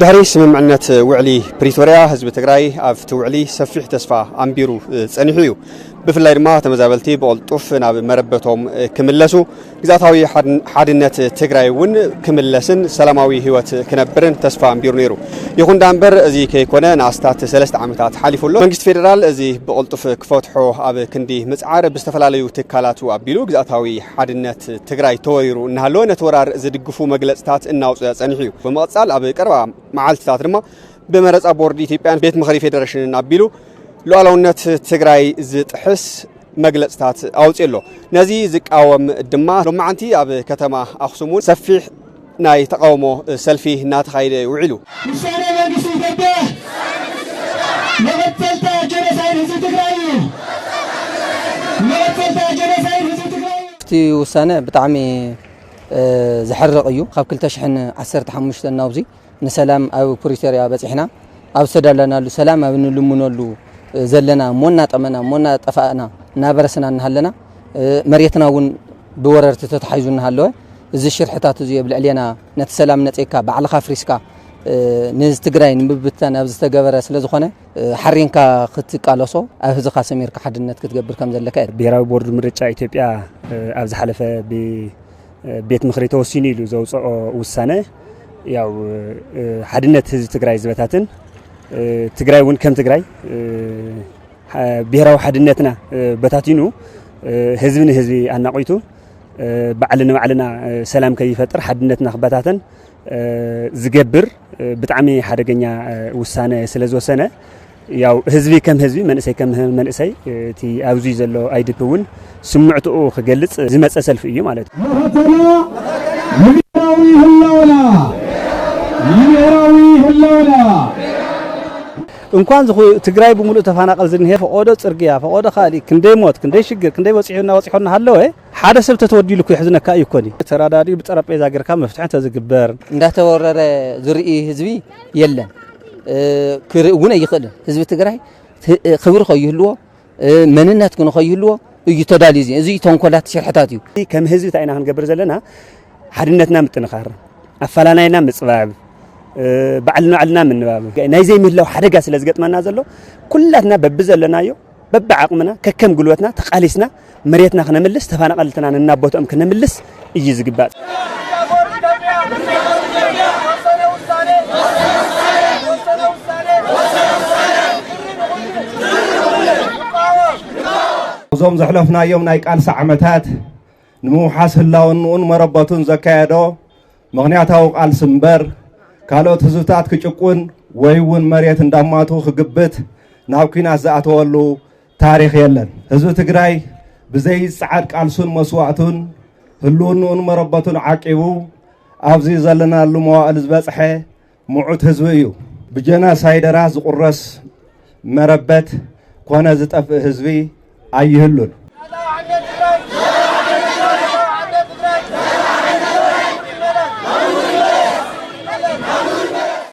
ድሕሪ ስምምዕነት ውዕሊ ፕሪቶርያ ህዝቢ ትግራይ ኣብቲ ውዕሊ ሰፊሕ ተስፋ ኣንቢሩ ጸኒሑ እዩ። ብፍላይ ድማ ተመዛበልቲ ብቕልጡፍ ናብ መረበቶም ክምለሱ ግዝኣታዊ ሓድነት ትግራይ እውን ክምለስን ሰላማዊ ህይወት ክነብርን ተስፋ ኣንቢሩ ነይሩ። ይኹን ዳምበር እዚ ከይኮነ ንኣስታት ሰለስተ ዓመታት ሓሊፉ ኣሎ። መንግስቲ ፌደራል እዚ ብቕልጡፍ ክፈትሖ ኣብ ክንዲ ምፅዓር ብዝተፈላለዩ ትካላቱ ኣቢሉ ግዝኣታዊ ሓድነት ትግራይ ተወሪሩ እናሃለወ ነቲ ወራር ዝድግፉ መግለፅታት እናውፀ ፀኒሑ እዩ። ብምቕፃል ኣብ ቀረባ መዓልትታት ድማ ብመረፃ ቦርድ ኢትዮጵያን ቤት ምኽሪ ፌደሬሽንን ኣቢሉ ሉኣላውነት ትግራይ ዝጥሕስ መግለፅታት ኣውፅኡ ኣሎ። ነዚ ዝቃወም ድማ ሎማዓንቲ ኣብ ከተማ ኣክሱም እውን ሰፊሕ ናይ ተቃውሞ ሰልፊ እናተኻየደ እዩ ውዒሉ። ውሳነ መንግስቲ ኢትዮጵያ መቐፀልታ ጀኖሳይድ ህዝቢ ትግራይ እዩ። መቐፀልታ ጀኖሳይድ ህዝቢ ትግራይ እዩ። እቲ ውሳነ ብጣዕሚ ዘሕርቕ እዩ። ካብ 2015 ናብዚ ንሰላም ኣብ ፕሪቶርያ በጺሕና ኣብ ዝተደለናሉ ሰላም ኣብ ንልምነሉ ዘለና እሞ እናጠመና እሞ እናጠፋእና እናበረስና እናሃለና መሬትና እውን ብወረርቲ ተታሒዙ እናሃለወ እዚ ሽርሕታት እዚ ኣብ ልዕሌና ነቲ ሰላም ነፂግካ ባዕልኻ ፍሪስካ ንትግራይ ንምብታን ኣብ ዝተገበረ ስለ ዝኾነ ሓሪንካ ክትቃለሶ ኣብ ህዝኻ ሰሚርካ ሓድነት ክትገብር ከም ዘለካ እዩ ብሔራዊ ቦርድ ምርጫ ኢትዮጵያ ኣብ ዝሓለፈ ቤት ምኽሪ ተወሲኑ ኢሉ ዘውፀኦ ውሳነ ያው ሓድነት ህዝቢ ትግራይ ዝበታትን ትግራይ እውን ከም ትግራይ ብሔራዊ ሓድነትና በታቲኑ ህዝቢ ንህዝቢ ኣናቂቱ ባዕሊ ንባዕልና ሰላም ከይፈጥር ሓድነትና ክበታተን ዝገብር ብጣዕሚ ሓደገኛ ውሳነ ስለ ዝወሰነ ያው ህዝቢ ከም ህዝቢ መንእሰይ ከም መንእሰይ እቲ ኣብዚ ዘሎ ኣይዲፒ እውን ስምዕትኡ ክገልፅ ዝመፀ ሰልፊ እዩ ማለት እዩ። መኸተና ንብሔራዊ ህላወና ንብሔራዊ ህላወና እንኳን ዝኹ ትግራይ ብምሉእ ተፈናቀል ዝንሄ ፈቆዶ ፅርግያ ፈቆዶ ካልእ ክንደይ ሞት ክንደይ ሽግር ክንደይ በፂሑና በፂሖና ሃለወ ሓደ ሰብ ተተወዲሉ እኮ የሕዝነካ እዩ እኮኒ። ተራዳዲኡ ብጠረጴዛ ገርካ መፍትሒ እንተዝግበር። እንዳተወረረ ዝርኢ ህዝቢ የለን ክርኢ እውን ኣይኽእልን ህዝቢ ትግራይ ክብሪ ከይህልዎ መንነት ግን ከይህልዎ እዩ ተዳልዩ እዚ እዚ ተንኮላት ሽርሕታት እዩ ከም ህዝቢ እንታይ ኢና ክንገብር ዘለና ሓድነትና ምጥንኻር ኣፈላላይና ምፅባብ ባዕልና ባዕልና ምንባብ ናይ ዘይምህላው ሓደጋ ስለ ዝገጥመና ዘሎ ኩላትና በቢ ዘለናዮ በቢ ዓቕምና ከከም ጉልበትና ተቓሊስና መሬትና ክነምልስ ተፋናቀልትና ነናቦትኦም ክነምልስ እዩ ዝግባእ። እዞም ዘሕለፍናዮም ናይ ቃልሲ ዓመታት ንምውሓስ ህላውንኡን መረበቱን ዘካየዶ ምኽንያታዊ ቃልሲ እምበር ካልኦት ህዝብታት ክጭቁን ወይ እውን መሬት እንዳማቱ ክግብት ናብ ኩናት ዝኣተወሉ ታሪኽ የለን ህዝቢ ትግራይ ብዘይ ጸዓድ ቃልሱን መስዋእቱን ህልውንኡን መረበቱን ዓቂቡ ኣብዚ ዘለናሉ መዋእል ዝበጽሐ ምዑት ህዝቢ እዩ። ብጀናሳይደራት ዝቁረስ መረበት ኮነ ዝጠፍእ ህዝቢ ኣይህሉን።